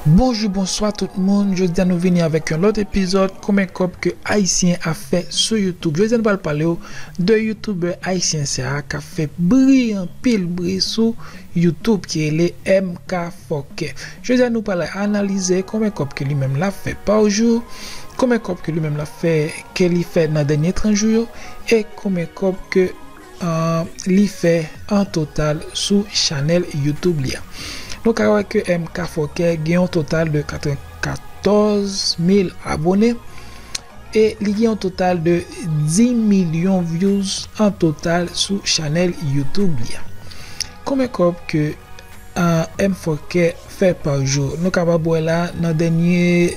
Bonjou bonswa tout moun jodia nou vini avèk yon lòt epizòd konbyen kòb ke ayisyen ap fè sou youtube jodia nou pral palew de youtubè ayisyen sa kap fè bri anpil bri sou youtube ki rele MK fòkè jodia nou pral analize konbyen kòb ke li menm lap fè pa jou konbyen kòb ke li menm lap fè ke li fè nan dènye 30 jou yo e konbyen kòb ke an li fè an total sou chanèl youtube li a. Nou ka wè ke MK Fòkè gen yon total de 94 mil abone e li gen yon total de 10 milyon vyouz an total sou chanèl youtube li a. Konbyen kòb ke MK Fòkè fè pa jou? Nou kapab wè la nan dènye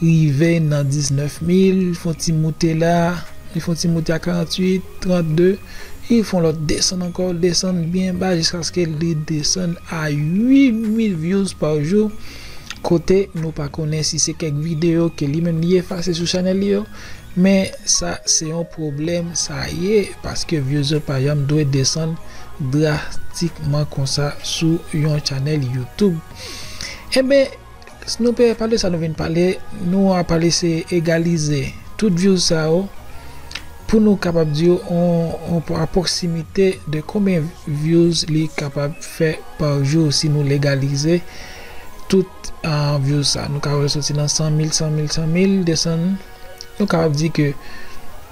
rive nan 19 mil, li fon ti moute la, li fon ti moute a 48, 32, li fon lòt desann ankò, li desann byen ba jiskaske li desann a 8 mil vyouz pa jou, kote nou pa konnen si se kèk videyo ke li menm li efase sou chanèl li yo, men sa se yon pwoblèm sa ye, paske vyouz yo pa janm dwe desann drastikman konsa sou yon chanèl youtube. Enben. Si nou pe pale sa nou vin pale nou a pale se egalize tout views sa yo pou nou kapab di yo on aproximite de konbyen views li kapab fè par jour si nou legalize tout views sa nou ka wè soti nan 100 mil 100 mil 100 mil desann nou kapab di ke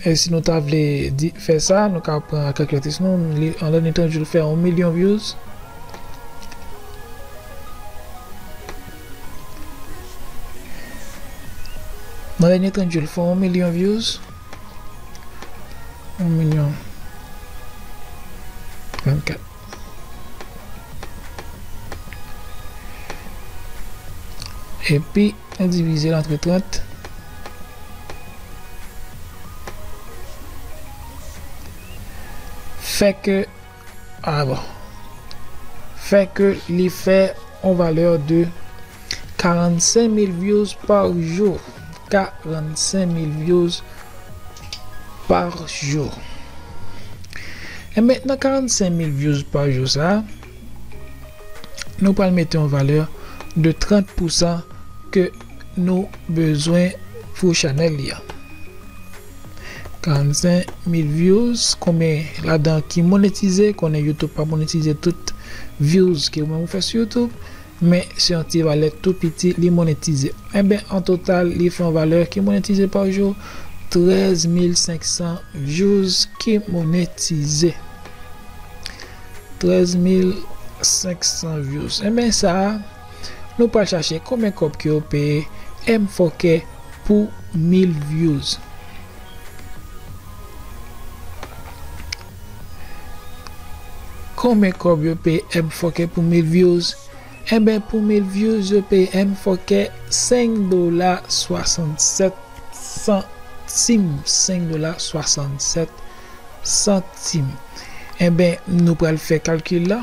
E si nou ta vle di fè sa, nou ka pran kalkilatris nou, li an lè ni tan jou l fè 1 milyon vyouz. Nan lè ni tan jou l fè 1 milyon vyouz. 1 milyon 24. Epi nou divize l antre 30. Fè ke, a bon, fè ke li fè yon valè de. 45 mil vyouz par jou 45 mil vyouz par jou enben nan 45 mil vyouz par jou sa nou pral mete yon valè de 30 pou san ke nou bezwen pou chanèl li an 45 mil vyouz konbyen ladan ki monetize konnen youtube pa monetize tout vyouz ke ou menm ou fè sou youtube. Men, se yon ti valè tou piti li monetize. Enben, an total, li fè yon valè ki monetize pa jou, 13 mil 500 vyouz ki monetize. 13 mil 500 vyouz. Enben sa a, nou pral chache konbyen kòb ke yo peye M. Fòkè pou mil vyouz. Konbyen kòb yo peye M fòkè pou mil vyouz Enben pou mil vyouz yo peye M fòkè 5 dola 67 santim 5 dola 67 santim Enben nou pral fè kalkil la.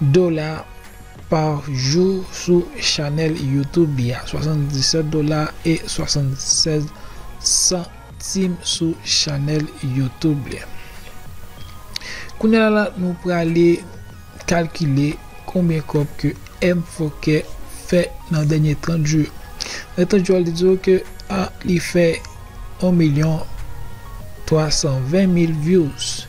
dola pa jou sou chanèl YouTube li a, 77 dola e 76 santim sou chanèl YouTube li. Kounya la nou prale kalkile konbyen kòb ke Mfokè fè nan dènye 30 jou yo. Nan 30 jou a li di w ke li fè 1 milyon 320 mil vyouz.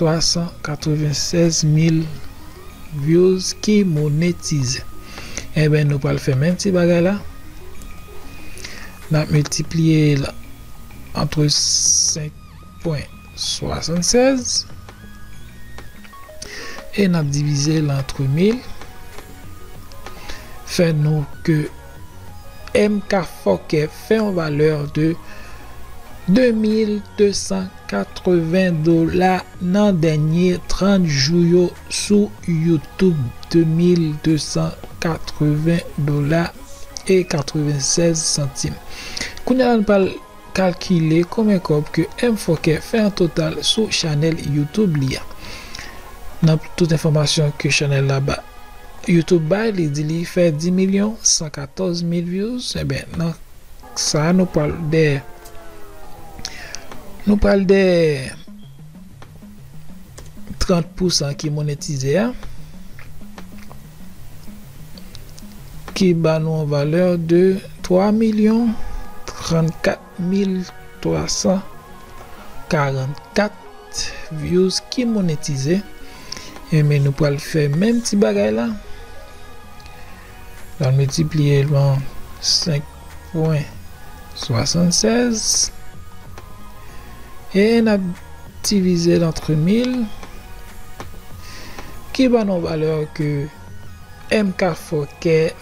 396 mil vyouz ki monetize enben nou pral fè menm ti bagay la nap miltipliye l antre 5 pwen 76 e nap divize l antre mil fè nou ke MK fòkè. fè yon valè de 2280 dola nan dènye 30 jou yo sou YouTube, 2280 dola e 96 santim. Kounya la nou pral kalkile konbyen kòb ke Mfoke fè an total sou chanèl YouTube li a. Nan tout enfòmasyon ke chanèl la ba. YouTube bay li di li fè 10 milyon 114 mil vyouz enben nan sa nou pral dè nou pral dè 30 pousan ki monetize a ki ba nou yon valè de 3 milyon 34. 1344 views ki monetize enben nou pral fè menm ti bagay la pral multiplier l pa 5 pwen 76 e nap divize l entre 1000 ki ba nou valè ke MK Fòkè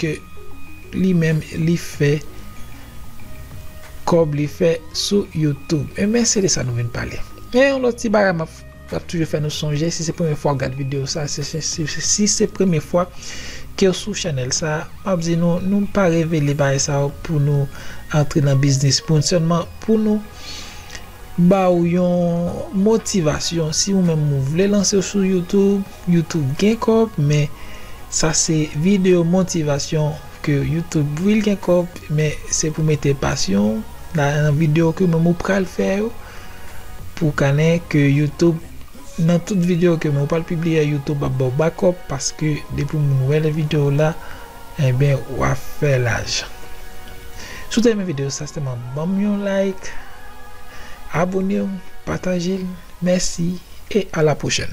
ke li menm li fè kòb li fè sou youtube e men se de sa nou vin pale gen yon lòt ti bagay map map toujou fè nou sonje si se premye fwa ou gad video sa se si se premye fwa kew sou chanèl sa map di nou nou pa revele bagay sa yo pou nou antre nan biznis moun sèlman pou nou ba ou yon motivasyon si ou menm ou vle lanse sou youtube. YouTube gen kob men sa se video motivation ke YouTube wi l gen kob men se pou mete pasyon w nan video ke menm ou pral fè yo pou w kannen ke YouTube nan tout video ke menm ou pral pibliye YouTube ap baw bakop paske depi moun wè le video w la Enben wap fè lajan. Si w ta renmen video sa sèlman banm yon like, abonew, patajel, mèsi e a la pwochèn.